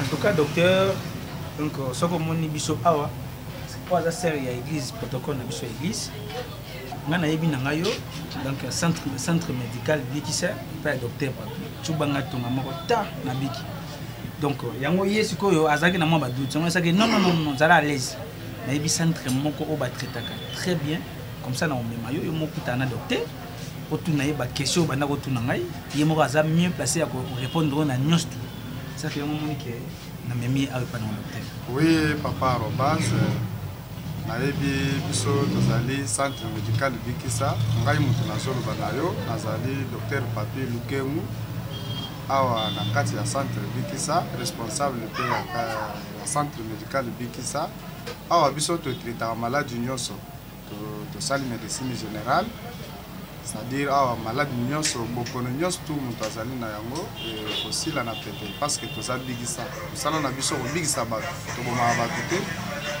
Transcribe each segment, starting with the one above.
en tout cas docteur donc euh, soki omoni biso awa oyo aza sere ya église protocole na biso ya église ngai nayebi na ngai yo donc euh, centre, centre médical bikisa epai ya docteur cuba ngai tonga moko ta na biki donc euh, yango ye sikoyo azalaki na mwa badoute yango asaki non non non ozala à l'aise nayebi centre moko oyo batraitaka très bien comme ça na omema yo yo mokutana na docteur otuna ye baquestion oyo banda kotuna ngai ye moko aza mieux place ya korépondre oyo na nyonso tu saki yango omoni ke na memi ye awa epai na hotel oui papa arobas nayebi biso tozali centre médical bikisa ngai moto nazoloba na yo nazali docteur papi lukemu awa na kati ya centre bikisa responsable mpe ya centre médical bikisa awa biso totritaka maladi nyonso tosali medecine générale c'est-à-dire awa maladi nyonso bokono nyonso tu moto azali na yango ekosila na pete parce que toza bigisa mosala na biso kobigisa bato tobomaka bato te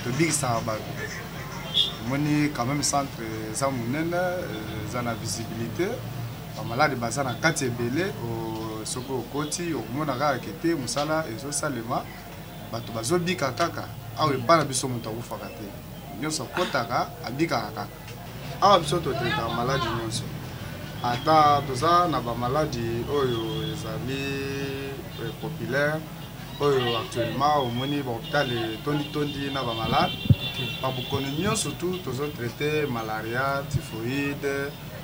tobigisaka bato omoni quand même centre eza monene eza na visibilité bamaladi baza na kati ebele soki okoti okomona kaka kete mosala ezosalema bato bazobika kaka awa mm. epai na biso moto akufaka te nyonso akotaka abikaka kaka awa biso totetaka maladi nyonso ata toza na bamaladi oyo ezali eh, populaire oyo actuellement omoni bahopital etonditondi na bamalade babokono nyonso tu tozotraite malaria typhoïde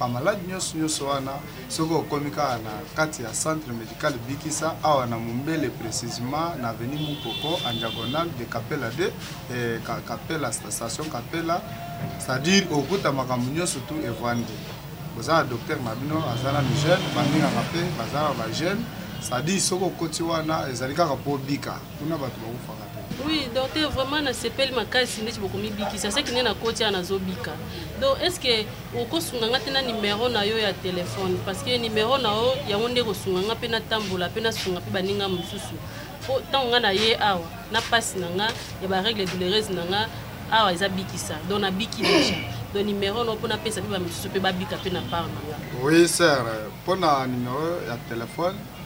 bamaladi nyonso nyonso wana soki okomi kaka na kati ya centre médical bikisa awa na mombele précisement na aveni mukoko en diagonale de capela 2 eh, capela station capela c'est-à-dire okuta makambo nyonso tu evandi boza na docteur na bino aza na migene bamingaka mpe baza na bagene c'est-à-dire soki okoti wana ezali kaka mpo obika kuna bato bakufaka Oui, docteur, vraiment na sepeli makasi ndeti bokomibikisa seki nde nakoti awa nazobika donc est ce que okosunga nga te na numero na yo ya telefone parce que numero na yo yango nde ekosunga nga mpe natambola mpe nasunga mpe baninga mosusu mpo ntango nga na ye awa na mpasi na nga ya baregle doulereuse na nga awa eza bikisa donc nabiki deja donc numero na yo mpo napesa mpe bamosusu mpe babika mpe na part na nga oui sir mpo na numero ya telefone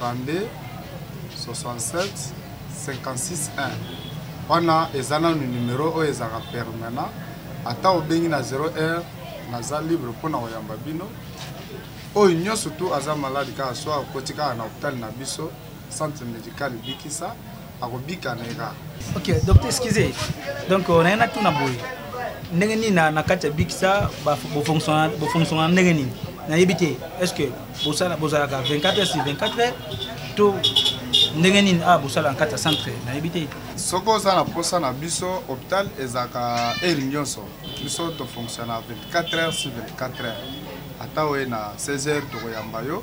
32 67 56 1 wana eza nanu numero oyo ezalaka permanent ata obengi na 0 heure naza libre mpo na koyamba bino oyo nyonso tu aza maladi kaka swa akoti kaka na hopitale na biso centre médical bikisa akobika na ye kaka ok docteur excuse donc euh, naye natuna boye ndenge nini na kati ya bikisa bofonctiona ndenge nini nayebi te est ce que bozalaka 24 heures sur 24 heures to ndenge nini a ah, bosala na kati ya centre nayebi te soki oza na mposa na biso hôpital ezalaka heure nyonso biso tofonctiona 24 heures sur 24 heures ata oye na 16 heures tokoyamba yo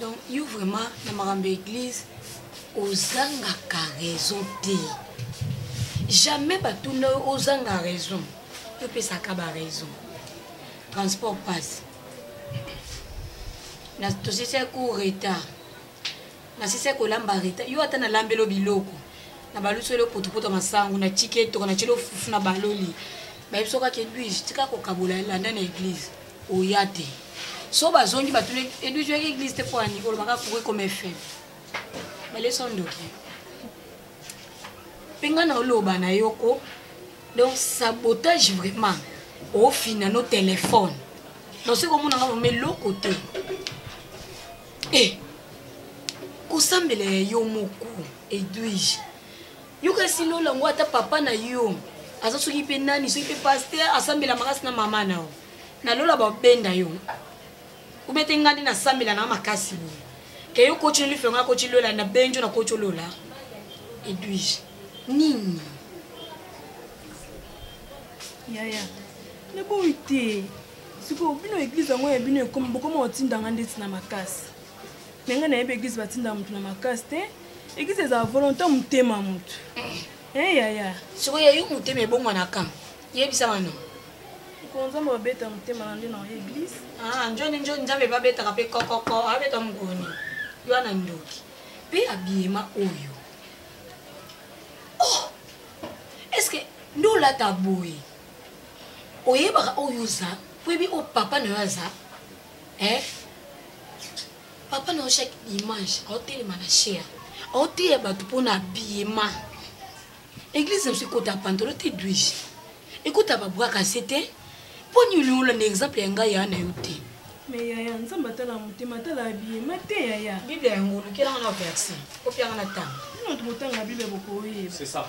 donc yo vraiment na makambo ya église ozangaka raison te jamais batuna yo ozanga raison topesaka baraison transport passe tosesaki retard na sisi kolamba reta yo ata nalambelo biloko na baluselo potopoto masangu na tiki etoko na tyelo fufu na baloli bayebi soki ake edwige tika kokabola elanda na eglize oya te so bazongi batuna edwige oyaki eglize te mpo ani olobaka koki koma fm balesi ondoki mpe ngai na oloba na yoko donc sabotage vraiment ofina no telefone donc soki omonanga vraimen eloko te Eh, kosambela ya yo moko edwige yokasi lola yango ata papa na yo aza soki mpe nani soki mpe paster asambela makasi na mama na yo na lola babenda yo obete ngai nde nasambela na makasi boye ke yo koti olife ngai koti lola na benjo na koti olola edwige nini yaya naboyi te sikoyo bino eglize yango ya bino ekomi bokoma kotinda nga ndeti na makasi me ngai nayebi eglize batindaka motu na makasi te eglize ezala volonté motema motu e eh, yaya sikoyo yayo motema ebongwanaka yebisa bano nzambe babeta motema na nde na eglize ah, njoni njoni nzambe babetaka mpe kokoko abeta mokoni wana ndoki mpe abiyema oyo oh! estce nde olata boye oyebaka oyo oza oyebi oyo papa na yo aza eh? papa na yo chaque dimanche aotelema na cher aoteya bato mpo na biyema eglise na biso ekota pantolo te duige ekota babwaka se te mpo nini olanda exemple ya ngai yaa na yo te me yaya nzambe atala motema atala abiyema te yaya biblia yango olukelanga na verse opianga na ntango nino tokotanga biblia bokoyeba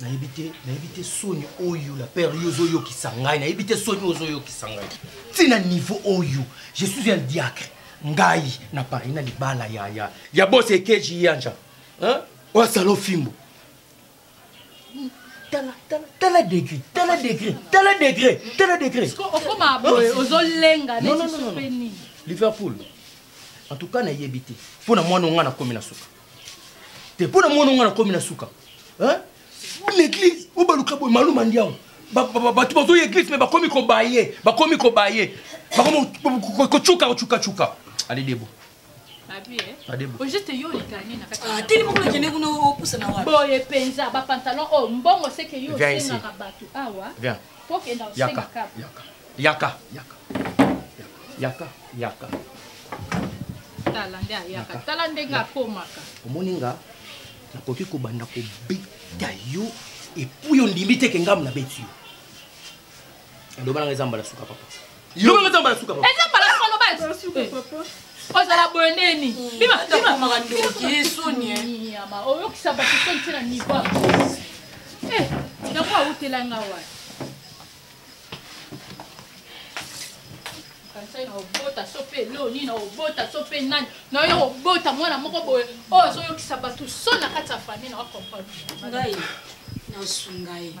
nayebi te nayebi te soni oyo la père yo ozoyokisa ngai nayebi te soni oyo ozoyokisa ngai ntina niveau oyo je suis un diacre ngai na paris na libala ya ya ya bos ekeji yanja oyo asala ofimbo tala tala tala degré tala degré tala degré tala degré okoma boye ozolenga neti sopeni liverpool en tout cas nayebi te mpo na mwana onga nakomi na suka te mpo na mwana nga nakomi na suka na eglise oyo baluka boye maluma ndiango bato bazoya eglise me bakomi kobaye bakomi kobaye bakomi kocuka kocukacuka alidebo boye mpenza bapantalon oyo mbongo seke yo osengaka bato awa po okenda osengaka Yaka, yaka, yaka, yaka. Tala nde ayaka, tala ndenge akomaka. Omoni nga, nakoki kobanda kobeta yo epuis ondimi te ke ngambo nabeti yo. Loba nanga eza mbala suka papa. Loba nanga eza mbala suka papa. Eza mbala suka loba eza suka eh. papa. ozala boye nde nini hmm. bimakomaka ndoki ye soni yama oyokisa bato soni ntina nivo yango awutela nga wapi kanisaki na obota so mpe eloo nini na obota so mpe nani na yo obota mwana moko boye oyo azoyokisa bato so na kati ya fami na wakomprendre ngai nasunga ye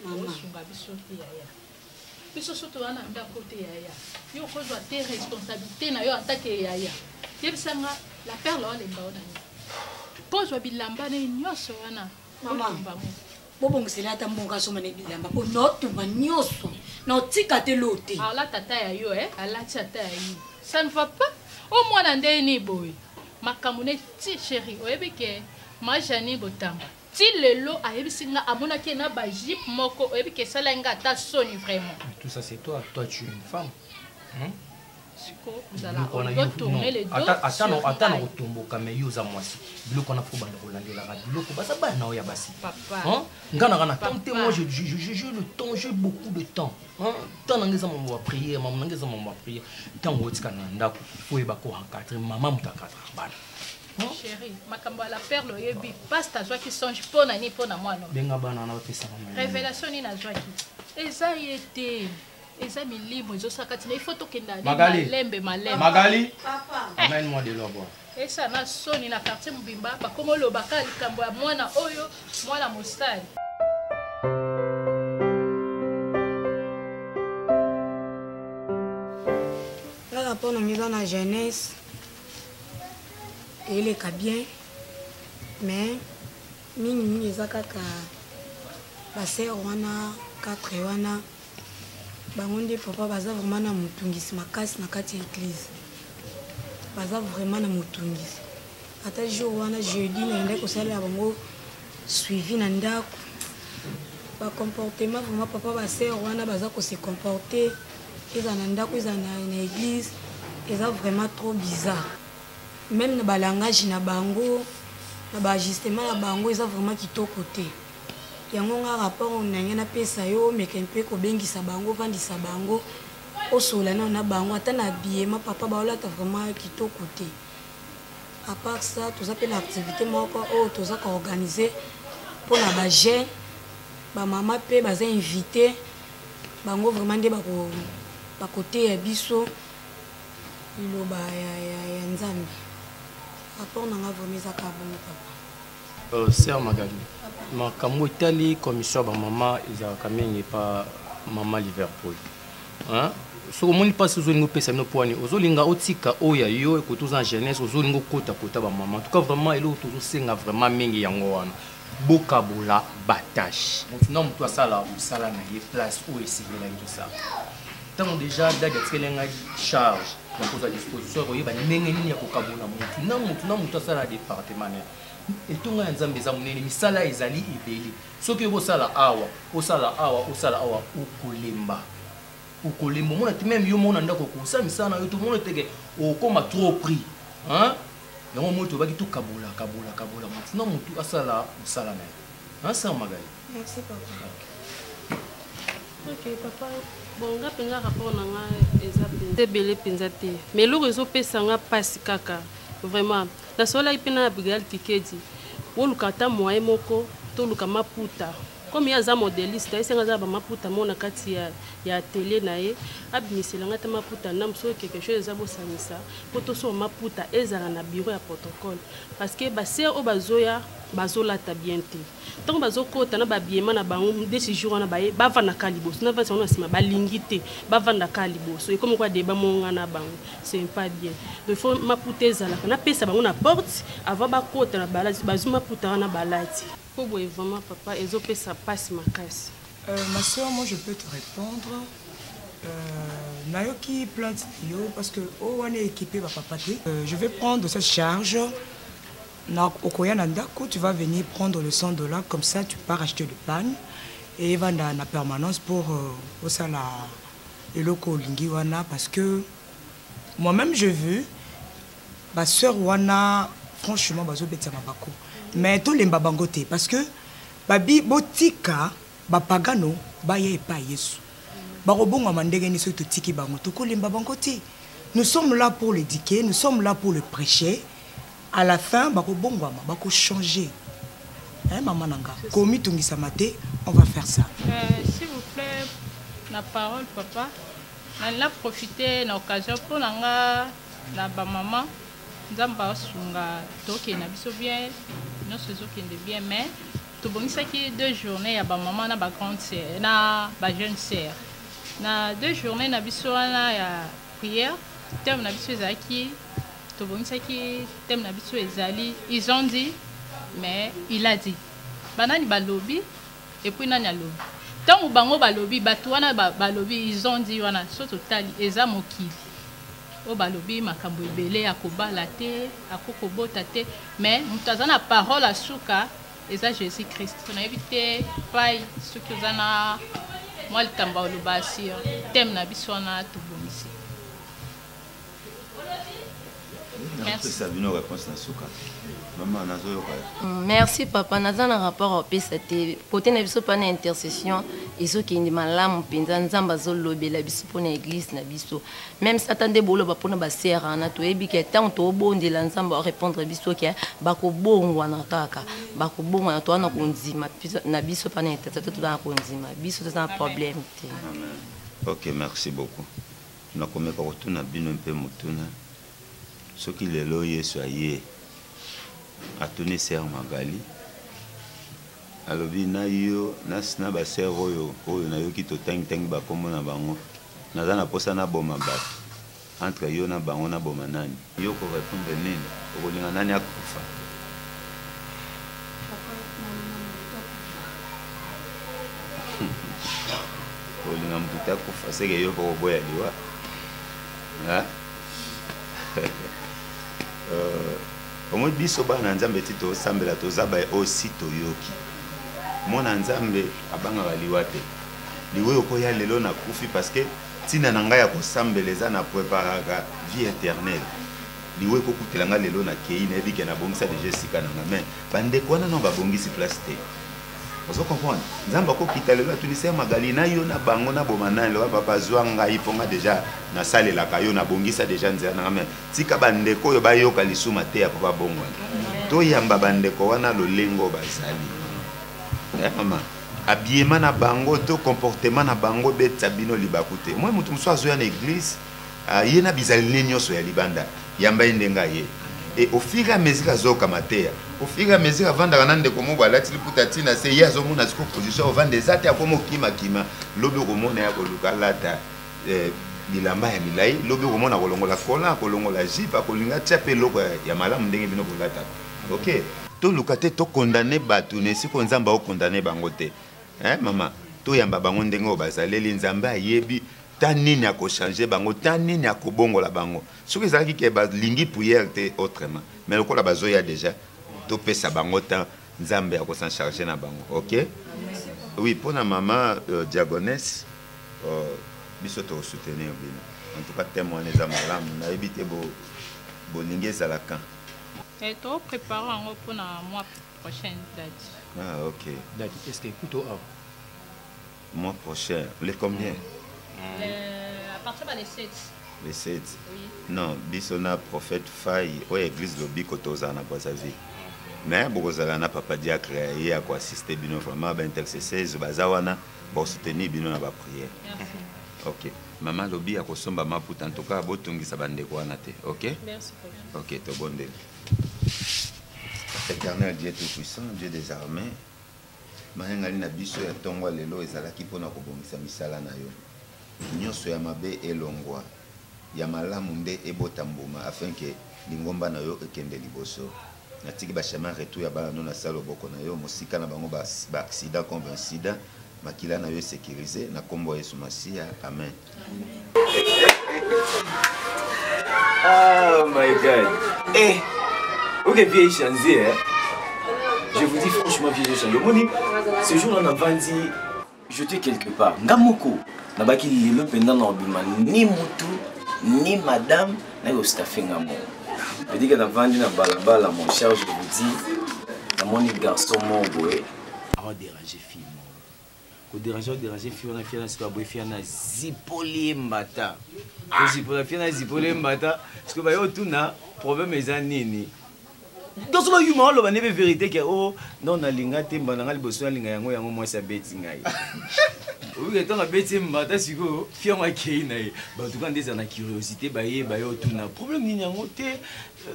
mamasunga biso te yaya biso so toza na ndako te yaya yo okozwa te responsabilité na yo antake yaya yebisa nga la perle oalemba o na nini mpo ozwa bilamba na ye nyonso wana otumba moko bobongisela ata mbongo asomba na bilamba mpo naotumba nyonso naotika te lo te alata ata ya yo eh? alati ata ya yo ça ne va pas o oh, mwana ndenge nini boye makambo ne ti chéri oyebi ke ma jani botamba ti lelo ayebisi nga amonaki ye na bajipe moko oyebi ke esalaki nga ata soni vraiment tout ça c'est toi toi tu une femme hein? biloko wana ata na kotomboka me yo oza mwasi biloko wana fo banda kolandelaka biloko baza bana na yo ya basi nga nanga na temps te moi je le temps je beaucoup de temps temps nanga eza mambo ya prière mambo nanga eza mambo ya prière ntango otika na ndako fo oyeba ko encadre mama moto akadra bana chéri makambo ya la perle oyebi pasta azwaki songe mpo na nini mpo na mwana benga bana wana bapesaka révélation nini azwaki eza ye te eza milimo ezosala kati na ifo tokenda malembe malembe magali eh. amène moi de l'eau esa na soni na quartier mobimba bakoma olobaka likambo ya mwana oyo mwana mosali kaka mpo na miza na jeunesse eleka bien mais mingimingi eza kaka basere wana 4 wana bango nde papa baza vraiment na motungisi makasi na kati ya eglise baza vraiment na motungisi ata jour wana jeudi nayendaki kosalela bango suivi na ndako bacomportement vraiment papa baser wana baza kose comporte eza na ndako eza na eglise eza vraiment trop bizarre meme na balangage na bango na baajustement na bango eza vraiment kitoko te Yango nga rapport nange na pesa yo omeka un peu kobengisa bango ovandisa bango osolola nao na bango ata na habillement papa baolata vraiment kitoko te à part ça toza mpe na activité moko oyo toza ko organiser mpo na ba jeune bamama mpe baza invité bango vraiment nde bakoteya biso liloba ya, ya, ya nzambe rapport nanga vraiment ezaka bongo papa Euh, sœur Magali, makambo etali commission ya bamama ezalaka mingi epa mama Liverpool. Hein? soki omoni mpasi ozolinga opesa bino pwani ozolinga otika oyo ya yo ekoki toza na jeunesse ozolinga okota kota bamama tuka vraiment eloko tozosenga vraiment mingi yango wana bokabola batashe motu na motu asala mosala na ye place oyo esengelaki osala ntango deja dadi atikeli ngai charge na kozwa disposition ya koyeba ndenge nini ya kokabola motu na motu na motu asala na departement na etonga ya nzambe eza monene misala ezali ebele soki oyebi osala awa osala awa osala awa okolemba okolemba omona te meme yo moko na ndako okosala misala na yo te omona teke okoma trop prix yango moi tobaki tokabola kabola kabola motu na motu asala mosala na ye asala magali Merci papa. Ok papa, bon nga mpenza rapport na nga eza mpenza ebele mpenza te mais eloko ezopesa nga mpasi kaka vraiment nasololaki mpe na abigail kikedi oluka ata moyen moko toluka maputa comme ye aza modeliste ayesi nga aza na bamaputa moko na kati ya, ya atelier na ye abimisela nga ata maputa ndambo soki quelque chose eza bosangisa mpo tosoma maputa ezala na bureau ya protocole parce que basere oyo bazoya bazolata bien te ntango bazokota na babiema na bango desi jour wana baye bavandaka liboso na vasi yango na nsima balingi te bavandaka liboso ekomi kwa deba monga na bango c'est pas bien donc faut maputa ezalaka napesa bango na porte avant bakota na balati bazwi maputa wana balati mpo boye vraiment papa ezopesa mpasi makasi euh, ma soeur moi je peux te répondre euh, nayoki plainte yo parce que oyo oh, wana ekipe bapapa te euh, je vais prendre cette charge Na okoya na ndako, tu vas venir prendre le 100 dollars comme ça tu pars acheter le pan et evanda na permanence pour euh, osala eloko olingi wana parce que moi-même je veux ba sœur wana franchement bazobetisa mabako mais tolemba bango te parce que babi botika bapagano baya epai yesu bakobongwama ndenge nini soki totiki bango tokolemba bango te nous sommes là pour l'éduquer nous sommes là pour le prêcher à la fin bakobongwama bakochanger eh, mama na nga komitungisama te on va faire ça euh, s'il vous plaît na parole papa na profite na occasion mpo na nga na bamama nzambe asunga tokende na biso bien nyonso ezokende bien mais tobongisaki deux journée ya bamama na bagrande sœur na bajeune sœur na deux journée na biso wana ya prière terme na biso ezalaki tobongisaki thème na biso ezali ils ont dit mais il a dit banani balobi epuis nani alobi ntango bango balobi bato wana balobi ils ont dit wana so totali eza mokili oyo balobi makambo ebele akobala te ako kobota te mais moto aza na parole ya suka eza jésus christ nayebi te pai soki oza na mwa likambo oloba sur thème na biso wana tobongisi napesa bino réponse na suka mama nazoyoka mm, merci papa naza na rapport apesa te kote na biso mpa na intercession ezokende malamu mpenza nzambe azolobela biso mpo na église na biso meme sata nde boloba mpo na basere wana toyebi ke ntango tobondela nzambe arépondre biso ke bakobongwana kaka bakobongwana toza na kondima na biso mpa na intercession toza na kondima biso toza na problème te ok merci beaucoup Nakomeka kotuna bino mpe motuna, soki lelo Yesu aye, atuni sœur Magali, alobi na yo na ba sœur oyo oyo nayoki totangi tangi ba kombo na bango, naza na posa naboma batu entre yo na bango naboma nani? Yo oko repondre nini? Okolinga nani akufa? Okolinga mbuta akufa seke yo oko boya liwa? Hein? Euh, omoni biso bana nzambe ti tosambela toza baye oyo si toyoki mwana nzambe abangaka liwa te liwa okoya lelo nakufi parce que Tina na nga ya ko sambela eza na preparaka vie eternelle. Liwa eko kutela nga lelo na keyi na yebi ke na bongisa deja esika na nga mais ba ndeko wana nao ba bongisi place te. Ozo comprendre? Nzambe ako kita lelo atuni sœur Magalie na yo na bango na boma nani loba papa zua ngai po nga deja na salelaka yo na bongisa deja nzela na nga mais tika ba ndeko oyo ba yoka lisu mateya po ba bongwana. To yamba ba ndeko wana lolenge oyo bazali. Eh maman. Habillement na bango to comportement na bango ebetisa bino libaku te. Omoni moto mosusu azoya na eglise aye na bizaleli ne nyonso ya libanda, yamba ye ndenge aye et au fur et à mesure azoyoka mateya au fur et à mesure avandaka na ndeko moko alati liputa ti na se ye azomona siko position ovanda eza te akomi okimakima lobi okomona ya koluka alata eh, bilamba ya milai lobi okomona kolongola kola kolongola jipe akolinga tia mpe eloko ya malamu ndenge bino bolataka ok toluka te tokondane bato na esika nzambe akokondane bango te eh, mama toyamba bango ndenge oyo bazaleli nzambe ayebi ta nini akochange bango ta nini akobongola bango soki ezalaki ke balingi priere te autrement mais lokola bazoya déjà topesa bango temps nzambe akosan charge na bango ok oui mpo na mama euh, diagonese euh, biso tokosoutenir bino en tout cas teme wana eza malamu nayebi te bolingi bo ezalaka Eh, to prépare yango mpo na mois prochain date. Ah, ok. Date, est-ce que kuto awa? Mois prochain, le combien? Mm. Le, à partir de le 7. Le 7. Oui. Non, biso na prophète Faye, oyo église lobiko tozala na Brazzaville. Mais bokozala na papa diacre ye ako assister bino vraiment ba intercesseurs baza wana ba soutenir bino na ba prière. Merci. OK. Maman lobi akosomba maputa en tout cas botungisa bandeko wana te. OK? Merci. Ok, tobondeli. Éternel Dieu Tout-Puissant, Dieu des armées, mayangani na biso ya ntongo lelo ezalaki mpo na kobongisa misala na yo nyonso ya mabe elongwa ya malamu nde ebota mbuma afin ke lingomba na yo ekende liboso natiki bachemin retour ya bana no na sala loboko na yo mosika na bango baaccident contre incident makila na yo esecurise na nkombo ya yesu masiya amen ah my god eh oke vie echange eh? je vous dis franchement vie echange omoni ce jour là navandi jete quelque part nga moko nabaki lelo mpenza na obima ni mutu ni madame naye ostafe nga moko petike navandi na balabala mon charge vous dis namoni garçon moko boye awa dérange fille ko déranger o déranger fille wana fille wana sikoyo aboyi fille wana zipoli ye mbata ozipola fille wana zipoli ye mbata sikoyo baye otuna problème eza nini toso bayuma oloba nde mpe vérité ke o oh, non nalinga te mbanda ngai liboso nalinga yango yango mwasi abeti ngai oyike ntango abeti ye mbata sikoyo fille yango akei na ye batuka nde eza na curiosité bayeba ye otuna problème nini yango te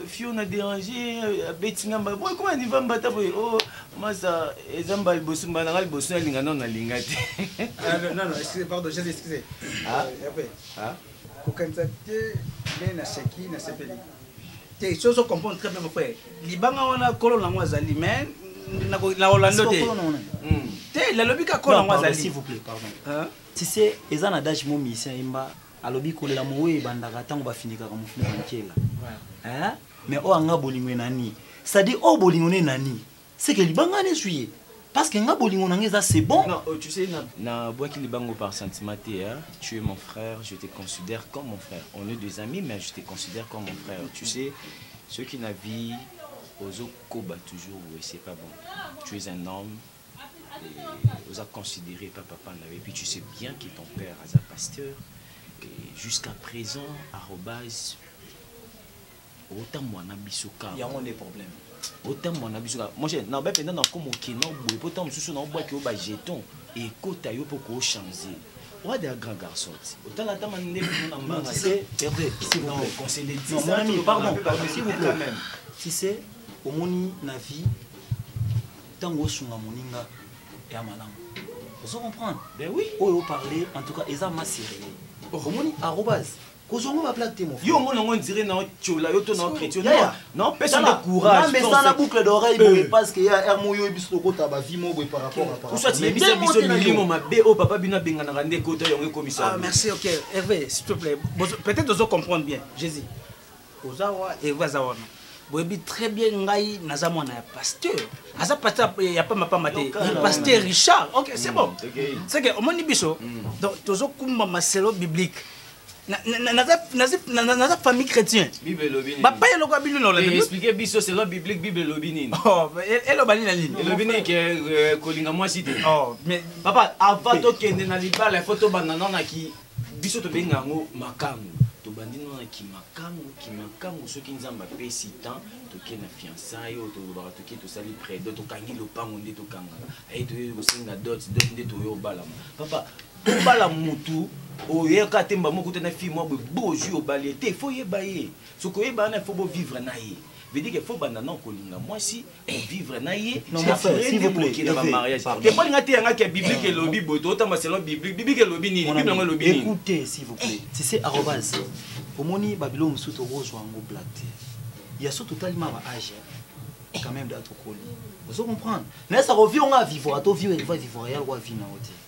fiona déranger abeti nga mbala boye koma niva mbata boye o oh, masa eza mbala liboso mbala nanga liboso nalinga nano nalinga te kokanisa te nde naseki nasepeli te soki ozo comprendre très bien mon frère libanga wana kolo nango azali mais na orlando te hmm. te nalobi ka kolo nango azali s'il vous plaît pardon tu sais eza na dage mo musicien yemba alobi kolela moweyi ebandaka ntango bafinikaka mofuni ya nkela eh? me oyo anga bolingo enani cestadire oyo bolingo ne enani seke libanga nezwi ye parce que nga bolingo na nga eza c'est bon non, oh, tu sais, na, na bwaki libango par sentiment te hein? tu es mon frère je te considère comme mon frère on est des amis mais je te considère comme mon frère tu sais ce qui na vie ozokoba toujours oye c'est pas bon tu es un homme oza considéré par papa na et puis tu sais bien que ton père aza pasteur et jusqu'à présent arrobase otamwana biso kaka yango nde problème otamwana biso kaka mon cher na ba penda na komo kino boye po tango mosusu na obwaki yo ba jeton ekota yo po ko changer Wade un grand garçon. Autant la dame en est pour nous en C'est Hervé, s'il vous plaît. Conseil des 10 ans. Pardon, s'il vous plaît. Tu sais, au monde, la vie, tango osunga moninga ya malamu ozo comprendre ben oui oyo oh, parler en tout cas eza ma sérieux oh. omoni arobase kozwa ngo baplaque te mofi yo omoni yango ondire na otiola yo to na ochrétien non pesa nde couragemesana boucle d'oreille boye euh. parce que ya rmo yo biso tokota bavie mo boye par rapport aparoyebisa biso milimo mabe oyo papa bino abenganaka nde ekota yango ekomisa ah, merci ok herve s'il te plaît peut-être ozo comprendre bien jésus oza wa herve aza wana boyebi très bien ngai naza mwana ya pasteur aza pasteur ya pamba pamba te pasteur richard ok c'est bon mm, c'est que omoni biso mm. donc tozokumba maselo biblique naza famille chrétien bapai eloko ya bino naolexplike biso selon biblique bible elobi nini oh, eloba nini na nini elobi nini ke euh, kolinga mwasi te oh, papa avant tokende na libala ifo tobanda nano na ki Biso tobenga yango makangu. Tobandi no na kimakangu, kimakangu soki Nzambe apesi temps toke na fiançailles oyo tolobaka toke tosali près dot tokangi lopango nde tokangaka aye toyei kosenga dot dot nde toyo obalama papa obala mutu oyaka te mbamo okuta na fille mwa boye bo ozwi obali ye te fo oyeba ye soki oyeba wana fo bovivre na ye vedike fo banda na okolinga mwasi vivre na ye teponi nga teya nga kia biblique eh, elobi boye tootamba selon biblique biblique elobi nini bible yango elobi nini écoutez s'il vous plaît tu sais arrobase omoni babilo mosusu tokozwa yango black te ya so totali ma ba age quand même da tokoli ozo comprendre mais ça revient nga vivre to vivre vivre ya lwa vie na yo te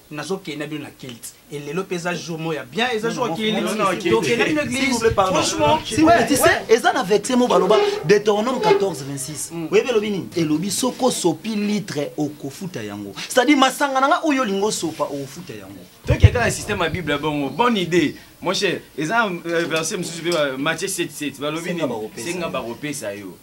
nazo kenda bino na kilt et lelo pe eza jour moko ya bien eza jour ya kilt tokenda bino église franchement eza na verset moko baloba deutéronome 14 26 mm. oyebi elobi nini elobi soki osopi litre okofuta yango c'est à dire masanga na nga oyo olingi osopa okofuta yango tokenda na système ya bible ya bongo bonne idée mon cher eza euh, verset mosusu mpe euh, matthieu 77 balobi nini senga bakopesa yo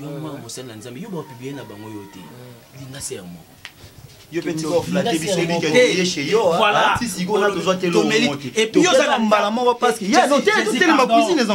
yo mama euh. mosali na nzambe yo bapublie na bango yo te euh. linga se ya moko mbala moko paceotelema cuisine ezaa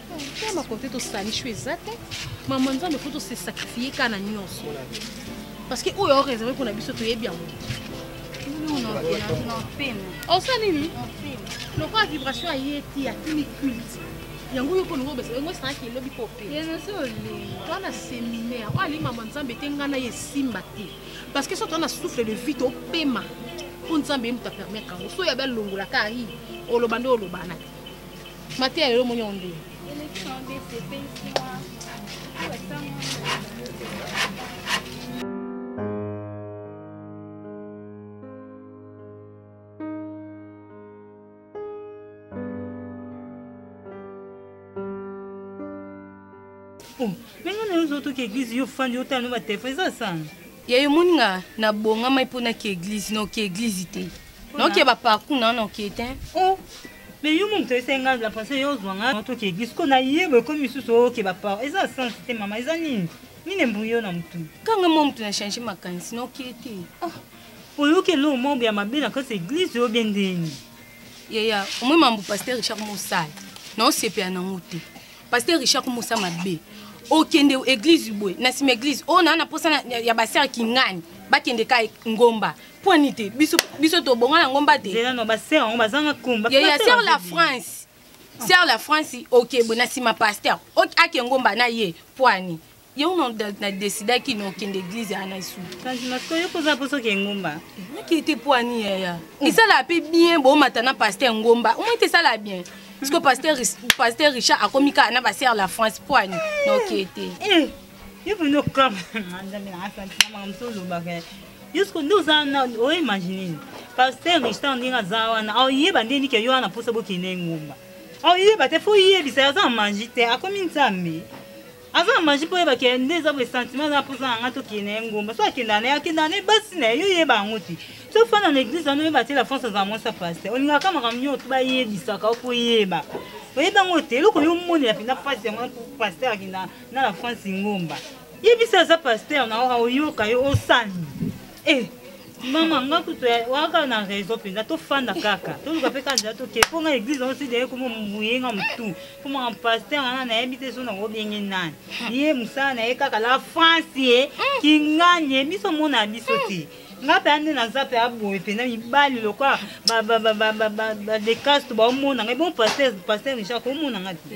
ya makote tosali sho eza te mama nzambe fo tose sacrifie kaka na nyonso parce que oyo aoreserve mpo na biso toyebi yango osa nini lokola vibration aye ti atimi culte yango yo mponingo obesa yango esalaki elobi mpo opeto na séminaire oyo alingi mama nzambe te ngai na ye esimba te parce que so toa na souffle de vie topema mpo nzambe ye moto apermettre yango so yabe alongolaka ai oloba nde olobana te mateya lelo omoni yango ndenge ndenge nayo ozotoka eglise yo fandi otala no batelefone eza sana ya yo moni nga na bonga mai mpo naki eglise noki eglise te noki ba parcours na noki te oh. mais yo moto ese nga la pensé yo ozwa nga toki eglise ko na ye boye komi misusu oke ba parcours eza sens te mama eza nini nini embui yo na motu kanga mwa motu na change makanisi noki te oh. oyoki eloo mambo ya mabe na kati eglise oyo bie ndeni yaya omoi mambo paster richard mosala naosepela nango te pasteur richard mosa mabe okende eglise boye na nsima eglise oyo naa na mposa ya basere kingani bakende ka ngomba pwani te biso, biso tobonga na ngomba te ya ser la france ser la france okebwe na nsima pasteur ake ngomba na ye pwani yo na decidaki na okende eglize ya na suuokozalaposoki engumba naki te mpo ani yaya esalaka mpe bien boomata na paster ngomba omoi te esalaka bien parceke paster, paster richard akomi kaka na basere la france mpo ani na oke te eh, yo mpenza okama nzambe na asantina makambo so olobaka yusuku nde oza na oimagine paster richard ndenge aza wana aoyeba nde nike yo wana mposa bokende ngomba aoyeba te fo oyebisa aza manji te akomi nzambe aza na maji mpo oyeba ke nde eza boye sentiment aza na mposa na ngai tokende ye ngomba so akenda na ye akenda na ye basi na ye yo oyeba yango te so ofanda na eglise wana oyeba te la france azala mwasi ya paster olingaka makambo nyonso bayebisaka mpo oyeba oyebi yango te eloko yo omonela mpenza mpasi yango paster akenda na la france ngomba yebisa aza paster na oyoka yo osani eh, mama nga kutu waka na raison mpenza tofanda kaka toluka mpe kaka toke mpo nga église yango si deye komo moyenga motu mpo maka paster wana nayebi te so nango bienge nani ye mosala na ye kaka la france ye mm. kinganye biso mona biso mm. te nga mpe ande naza mpe aboye mpenza mibali lokola badekaste baomona ngai bon paster richard komona ngai te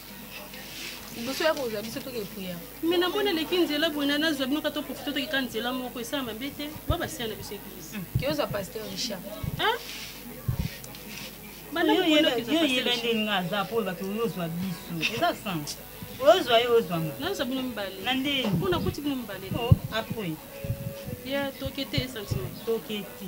liboso ya kozwa biso toke priere me na mona eleki nzela boye na nazwa bino kata profite tokeka nzela moko esala mabe te ba basiya na biso eglise hmm. kiyozwa pasteur richard yoyebende nga aza mpo olobaki oyozwa biso eza sans oyozwa ye ozwanga nazwa bino mibale na ndeni mpo nakuti bino mibale oh, apres ya toke te sentiment toke te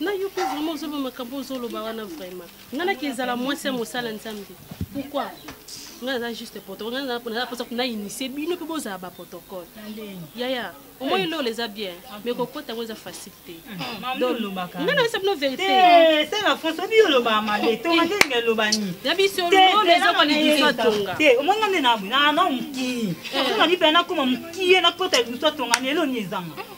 na yo mpe vraimen ozoloba makambo ozoloba wana vraimen ngai naki ezala mwasi ya mosala nzambe pourkoi ngai naza juste protocole ngai naza mposa kuna initie bino mpe bozala baprotocole yaya omoi eh. lola eza bien mais kokota yango eza facile te ah, ngai nayesa bino veriteyabisoelobaelobaniebisoelobaezokolibiswatongaomoi eh, ngai nde na mokii eh. nazonga mpe nakoma mokie nakota libiso atonga na eloni ezanga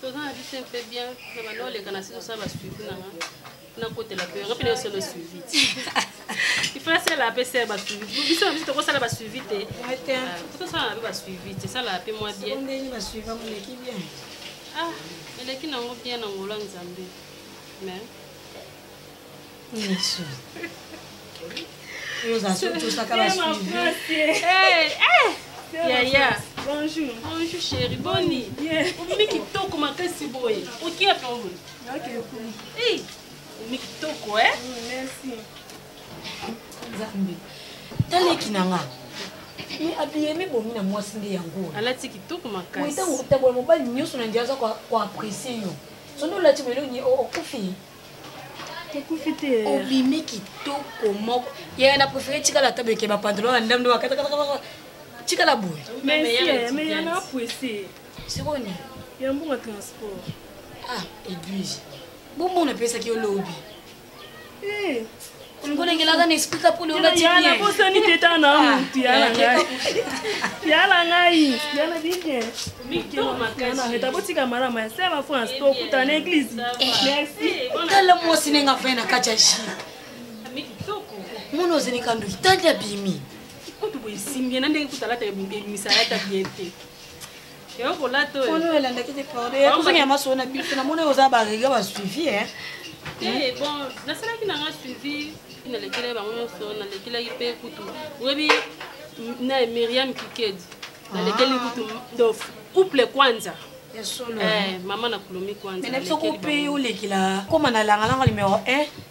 toza na biso mpe bien na banda oleka na siso sa basuivi nanga nakotela mpe yanga mpe nayosala suivi te ifala sala mpe sala basuivi biso na biso tokosala basuivi te tokosala mpe basuivi te sala mpe mwa bien ah eleki nango bien na ngolo ya nzambe mais Yesu. Nous avons tous à la suivi. Eh, eh. Yaya. Bonjour. Bonjour chérie. Boni. Omi kitoko makasi boye. Oki ya tongo. Ok. Eh. Omi kitoko eh. Mm, merci. Zambi. Taleki nanga. me abiyemi bomi na mwasi nde yango alati kitoko makasi ntango otambola mobali nyonso na ndia aza koapresie yo soki olati boye elongi okufi obimi kitoko moko yaya na préféré tikala ata beke bapantalon ya ndamdo bakatakatakataka tikala boye sikoyo nini ya mbonga transport ah edwige bomona epesaki yo lobi eh. ngolengelaka na esprit ka pole olati bien yana bosani te ta na ah. mutu yana ngai yana ngai yana bien mikelo makasi ta botika mara ma se ba fo na stop ta na église eh. merci kala eh, mwasi nenga fa na kacha shi mwana ozali kandu tandi abimi kutu boye simbi na ndenge kutalata ebimisa yata bien te Ono elandaki te corde ozongi ya maso na biso na mona oza barega ba suivi e eh, bon nasalaki nanga suivi nalekelaki bango nyonso nalekelaki mpe kutu oyebi na miriam kikedi nalekeli ah. kutu do couple kwanza ya solo eh, mama na kulomi kwanza mais na biso ko pe olekela koma na langalanga numero 1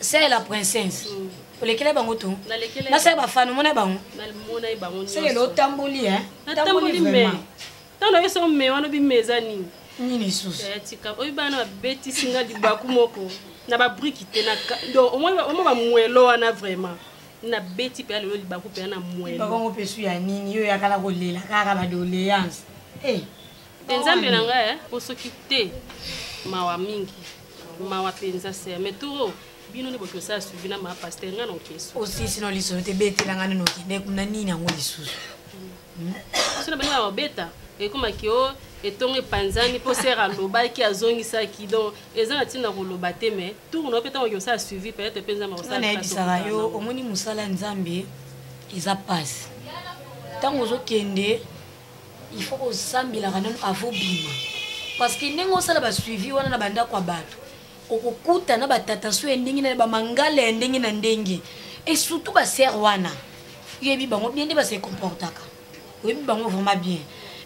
sœur la princesse olekela bango to nasala bafano mona bango seke lotamboli tamboli me ntango nayo soko me wana obi me eza nini nini lisusu eh, tika oyo bana babetisi nga libaku moko na babriki te donc omoi bamwelo wana vraiment nabeti mpe lelo libaku mpe na mwelo bakongo mpe su ya nini yo yakala kolela kaka badoleance eh. te nzambe na ngai eh, po soki te mawa mingi mawa mpenza ser mais turo bino nde boki osala suivi na ma paster ngai nokeso osisi no lisolo te betela ngai nino okende kuna nini yango lisusu hmm. so na bani ya kobeta ekomaki o oh, etongo epanzani mpo ser alobaki azongisaki donc eza na ntina koloba te mais tour na yo mpe ntango oki osala suivi peut-être mpe nzambe akosalanayebisaka yo omoni mosala nzambe eza mpasi ntango ozokende il faut kosambelaka nanu avo bima parce que ndenge osala basuivi wana na bandako ya bato okokuta na batatanso ya ndenge na bamangala ya ndenge na ndenge et surtout basere wana oyebi bango bien nde base comportaka oyebi bango vraiment bien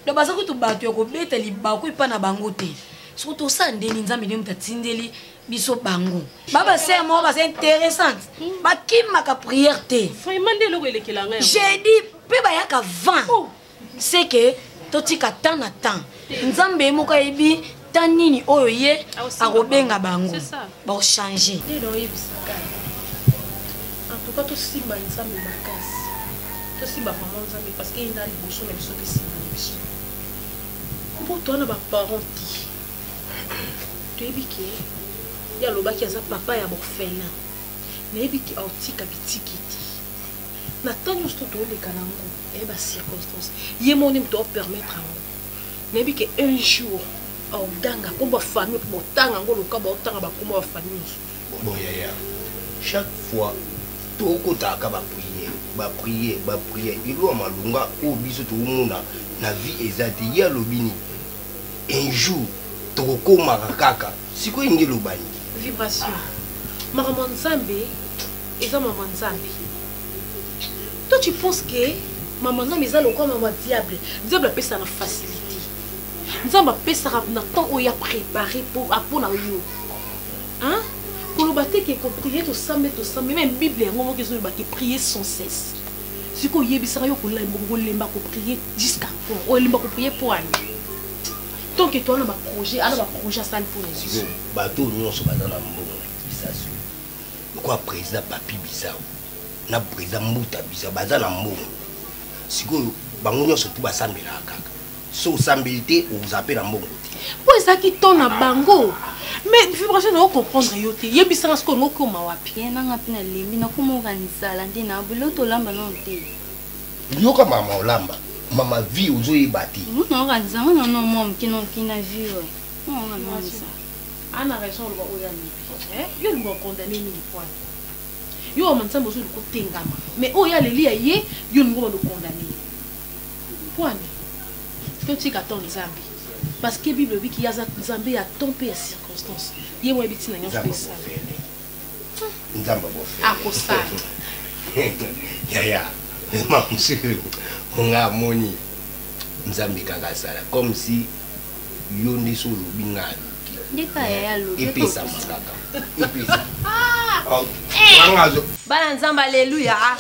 donc baza kutu bato ya kobeta libaku epa na bango te soki tosala ndeni nzambe nde moto atindeli biso bango babasere moko baza interessante bakimaka priere te jeudi mpe bayaka 20 oh. seke totika temps na temps nzambe ye moko ayebi ta nini oyo ye akobenga bango bochange antuka tosimba nzambe makasi tosimba mama nzambe parce que ye na liboso na biso tosimba na biso mpo towana baparent te toyebi ke ye alobaki aza papa ya borfelin nayebi ke aotika bitiki te na temps nyonso to toleka na yango eye ba circonstance ye moko nde moto aopermettre yango nayebi ke un jour aoganga mpo bafamille mpo botanga yango loka baotanga bakoma bafamille mosusu boyaya chaque fois tokotaka bapriere bapriere bapriere elwa malonga oyo biso tokomona na vie eza te ye alobi nini un jour tokokomaka kaka sikoyo nde elobani vibration makambo ya nzambe eza mama nzambe toi tu penses que mama nzambe eza lokwa mama diable diable apesa na facilité nzambe apesaka na temps oyo ya prépare mpo na yo hein koloba te ke koprie tosambe tosambe meme bible yango moko ezoloba ke prie sans cesse siko oyebisaka yo kolemba koprie jusqu'à quand olemba koprie mpo ani tant ke toa na baprojet ana baprojet asali mpo na biso bato nyonso baza na mbongo na kisasi lokola président papi bizao na président mbuta bizao baza na mbongo sikoyo bango nyonso tu basambelaka kaka so osambeli te oza mpe na mbongo te mpo ezalaki temps na bango mais vibration nao comprendre yo te yebisanga sikoyo ngo okoma wapi ye nanga mpe nalembi nakomoka nzala nde na bilo tolamba nano te yoka mama olamba mama vie ozoyeba te naoka nzanga nano mwa moke nokina vie oyo naoka nonza Ana raison oloba oyo alobi. Eh, yo olingi o condamner mingi poil. Yo wa mansambo ozo liko tengama. Mais oyo aleli ya ye, yo olingi o condamner. Poil. To tika ton Nzambe. Parce que Bible olobi ki aza Nzambe ya temps pe ya circonstance. Ye wa bitina nyoso esala. nzambe abofeli akosala yaya mamsuru nga amoni nzambe kaka asala comme si yo nde so olobi nga aluki epesama kaka ah! eh! bana nzambe aleluya ah!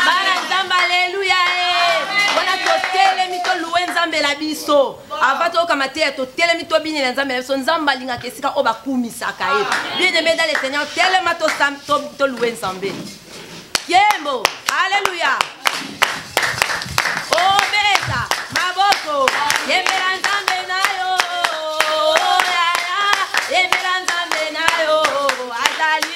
bana nzambe aleluya eh! wana totelemi toluwe nzambe na biso Avant toyoka mateya totelemi tobinela nzambe na biso nzambe alingaka esika oyo bakumisaka ye bien aimé dans le seigneur telema tolue nzambe yembo alleluya obeta maboko yembela nzambe na yo yaya yembela nzambe na yo azali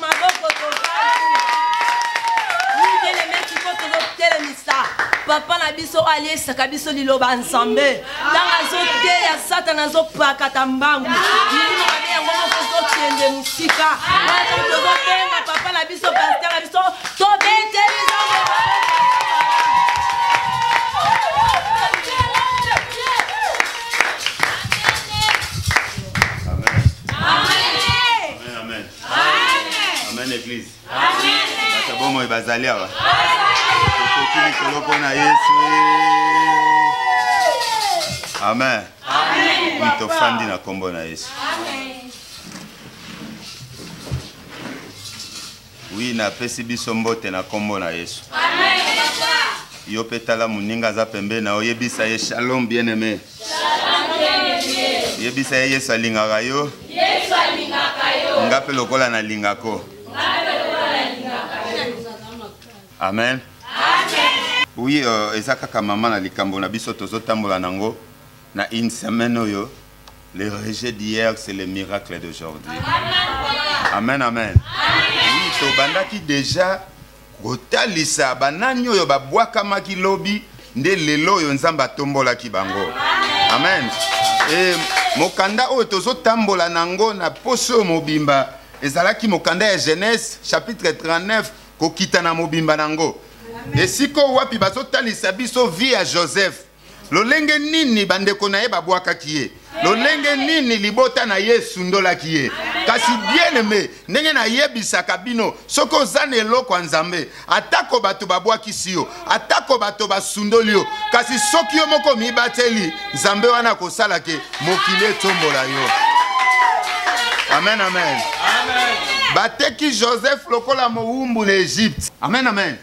maboko tozali mikele meki mpo tozotelemisa papa na biso oyo aliesaka biso liloba nzambe ntango azoteya satana azopakata mbangu milimo mabe yango moko ezokende mosika tozobenga papa na biso paster na biso tobeteli amen eglise bato ya bomoi bazali awa tokoki likolo mpo na yesu amen wi tofandi na nkombo na yesu wi napesi biso mbote na nkombo na yesu yo mpe tala moninga aza pembe na oyebisa ye shalom bien aime yebisa ye yesu alingaka yo nga mpe lokola nalingako amen oui euh, eza kaka mama na likambo na biso tozotambola nango na une semaine oyo le rejet d'hier c'est le miracle d'aujourd'hui amen amen, amen. oui tobandaki déjà Kotalisa banani oyo babwakamaki lobi nde lelo oyo Nzambe atombolaki bango. Amen. E, mokanda oyo tozotambola na yango na poso oyo mobimba ezalaki mokanda ya Genèse chapitre 39 kokita na mobimba na yango esika wapi bazotalisa biso vie ya Joseph lolenge nini bandeko na ye babwakaki ye lolenge nini libota na ye esundolaki ye kasi bieneme ndenge nayebisaka bino soki oza na eloko ya nzambe atako bato babwakisi yo atako bato basundoli yo kasi soki yo moko omibateli nzambe wana akosala ke mokili etombola yo amen amen, amen. bateki joseph lokola mowumbu na egypte amen amen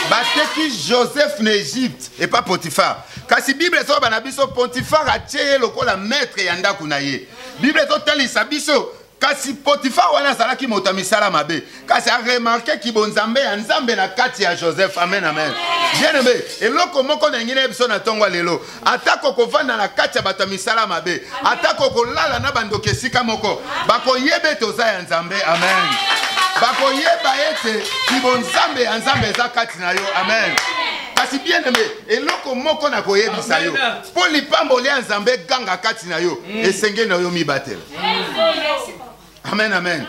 bateki joseph na egypte epa potifar kasi bible ezoloba na biso potifar atye ye lokola maître ya ndako na ye bible ezotalisa biso kasi potifar wana azalaki moto ya misala mabe kasi aremarke kibonzambe ya nzambe na kati ya joseph amen amen bien aime eloko moko na yangi na ye biso na ntongo ya lelo atako okovanda na kati ya bato ya misala mabe atako okolala na bandoki esika moko bakoyeba ete oza ya nzambe amen bakoyeba ete kibonzambe ya nzambe eza kati na yo amen kasi bien aime eloko moko na koyebisa yo mpo lipamboli ya nzambe ganga kati na yo mm. esengeli na yo mibatela amen amen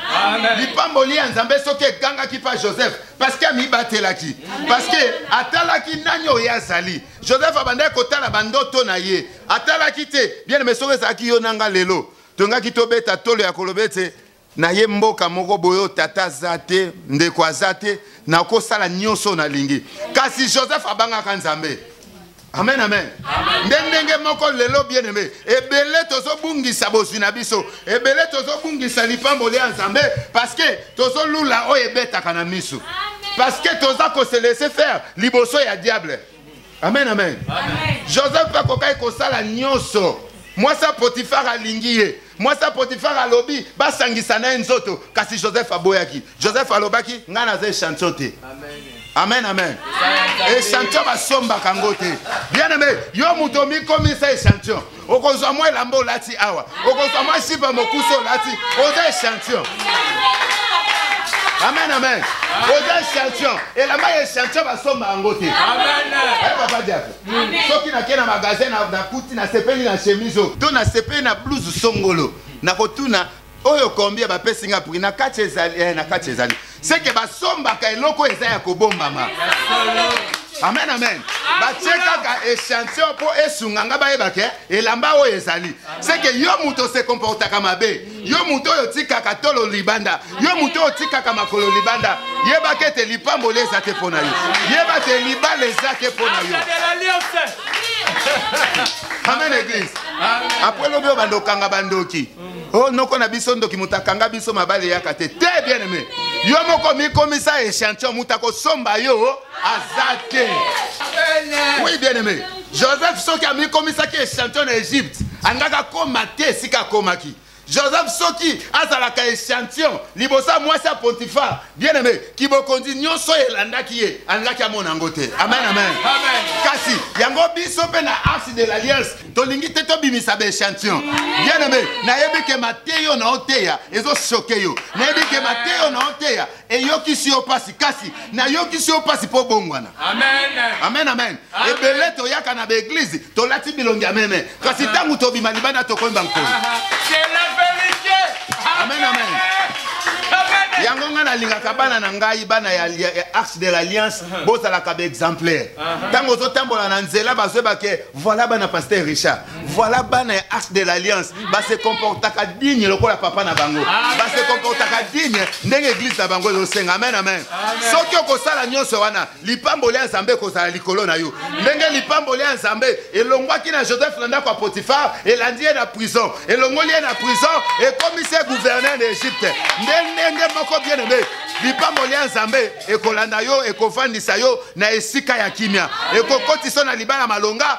lipamboli ya nzambe soki ekangaki mpa joseph parceke amibatelaki parceke atalaki nani oyo azali joseph abandaki kotala bandoto na ye atalaki te bien me soki ezalaki yo na nga lelo tongaki tobeta tolo ya koloba ete na ye mboka moko boyo tata aza te ndeko aza te nakosala nyonso nalingi kasi joseph abangaka nzambe amen amen nde ndenge moko lelo bien aime ebele tozobungisa bozwi na biso ebele tozobungisa lipamboli ya nzambe parce que tozolula oyo ebetaka na miso parce que toza kose laisser faire liboso ya diable amen amen, amen. joseph akokaki kosala nyonso mwasi ya potifar alingi ye mwasi ya potifare alobi basangisa na ye nzoto kasi joseph aboyaki joseph alobaki ngai naza echantio te amen amen echantio basombaka yango te bien aime yo moto omikomisa echantio okozwa mwa elamba olati awa okozwa mwa sipa mokusi olati oza echantio amen amen oza echantio elamba ya echantio basomba yango te papa diapo soki nake na magasin nakuti nasepeli na chemise oyo to nasepeli na blouse songolo nakotuna oyo kombi ya bapesi nga prix na kati ezali eh, na kati ezali seke basombaka eloko eza ya kobombama amen amen batie kaka echantillon mpo esunga nga bayebake elamba oyo ezali seke yo moto osekomportaka mabe yo moto oyo otikaka tolo libanda yo moto oyo otikaka makolo libanda yebaka ete lipamboli eza te mpo na yo yeba ete libala eza te mpo na yo amen eglise apres lobi oyo banda okanga bandoki o oh, noko na biso ndoki moto akanga biso mabale eyaka te te bien aime yo moko mikomisa echantillon moto akosomba yo aza te oui bien aimé joseph soki amikomisaki echantio na egypte angaka koma te esika akomaki joseph soki azalaka echantillon liboso ya mwasi ya pontifar bien aimé kibokonzi nyonso oyo elandaki ye alingaki amona yango te amen amen kasi yango biso mpe na arse de l'alliance tolingi te tobimisa baechantillon bien aimé nayebi ke mateyo na oteya ezosoke yo nayebi ke mateyo na oteya eyokisi yo mpasi kasi nayokisi yo mpasi mpo bongwana amen amen ebele toyaka na baeglize tolati bilongi ya meme kasi ntango tobima libanda tokoyemba nkolo amen amen yango ngai nalingaka bana na ngai bana ya arche de l'alliance bozalaka baexemplaire ntango ozotambola na nzela bazwebake voilà bana paster richard voilà bana ya axe de l'alliance base comportaka digne lokola papa na bango base comportaka digne ndenge eglise na bango ezosenga amen amen soki okosala nyonso wana lipamboli ya nzambe ekozala likolo na yo ndenge lipamboli ya nzambe elongwaki na joseph na ndako ya potifar elandi ye na prison elongoli ye na prison ekomisi ye gouverneur na egypte nde ndenge moko bien aime lipamboli ya nzambe ekolanda yo ekofandisa yo na esika ya kimia ekokotisa yo na libala malonga